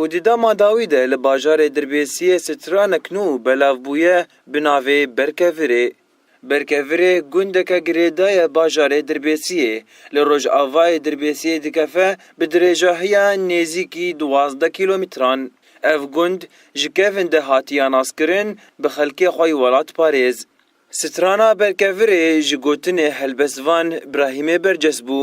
Û di dema dawî de li bajarê Dirbêsiyê stranek nû belav bûye bi navê Berkevirê. Berkevirê gundeke girêda ye bajarê Dirbêsiyê, li rojavayê Dirbêsiyê dikefe bi dirêjahiya nêzîkî duwazdeh kîlometran. Ev gund ji kevin de hatiya naskirin bi xelkê xwe yê welatparêz. Strana Berkevirê ji gotinê helbestvan Brahîmê berces bû.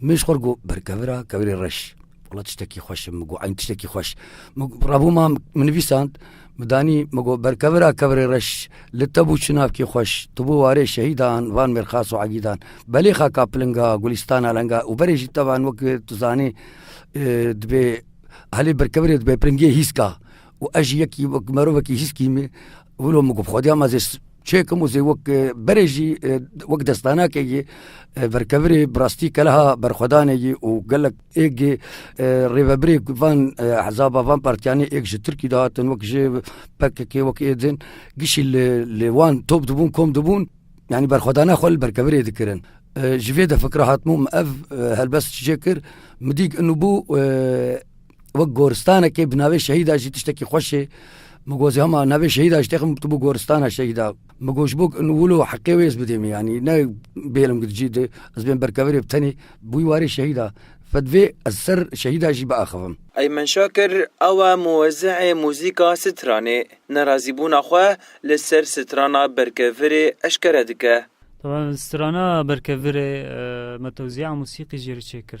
Min ji xwe re got berkevira kevirê reş. Wala tiştekî xweş e min got eyn tiştekî xweş. Min revûma min nivîsand min danî min got berkevira kevirê reş li te bû çinavkê xweş. Tu bû warê şehîdan van mêrxas û egîdan. Belê xaka pilinga gulîstana lenga û berê jî tevan wekî tu zanî dibê helê berkevirê dibê piringê hîska û ez jî yekî wek merovekî hîskî me Wilo min ku bi xwediya me zê çêkim û zê wek berê jî wek destanakê yî verkevirê bi rastî keleha berxwedanê yî û gelek êk yê rêvebirê van hezaba van partiyanê êk ji Tirkî de hatin wek jê pkk wek êdin gişî li li wan top dibûn kom dibûn yanî berxwedana xwe li berkevirê dikirin. Ji vê de fikra hatmû min ev helbest çê kir min dîk inûbû Wek goristanekê bi navê şehîda jî tiştekî xweşê min got hema navê şehîda ji têxim tu bû goristana şehîda min got ji bo wilo heqê wê ez bidêmê yanî ne bêlim gid jî di ez bên berkevirê bi tenê bûyî warê şehîda fedvê ez ser şehîda jî biaxivim. Eymen Şakir ew e muwezîhê muzîka stranê. Nerazîbûna xwe li ser strana berkevirê eşkere dike. Taban strana berkevirê me tewzîa musîqî jê re çêkir.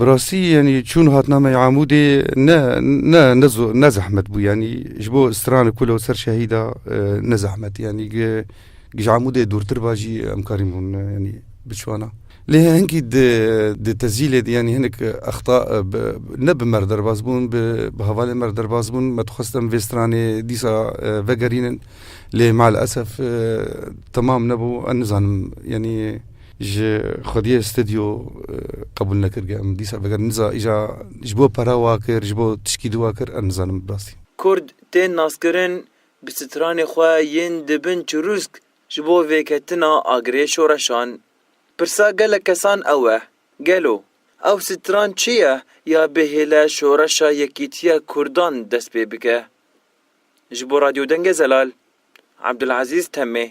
Bi rastî yanî çûn hatina me Amûdê ne ne ne ne zehmet bû yanî ji bo stranê ku li ser şehîda e, ne zehmet yanî ji Amûdê dûrtir ba jî em karî bûn e, yanî biçwana. Lê hengî di tezîlê de yanî hinek exta e, ne bi mer derbas bûn bi hevalê mer derbas bûn me dixwest em vê stranê dîsa e, vegerînin lê mal esef temam nebû nizanim yanî Ji xwediyê stidyo qebûl nekirge em dîsa veger niza îja ji bo para wa kir ji bo tişkî di wa kir em nizanim bi rastî. Kurd tên naskirin bi stranê xwe yên di bin çirûsk ji bo vêketina agirê şoreşan. Pirsa gelek kesan ew e, gelo ew stran çi ye ya bi hêle şoreşa yekîtiya kurdan dest pê bike? Ji bo Radyo Dengê Zelal, Abdulazîz Temê.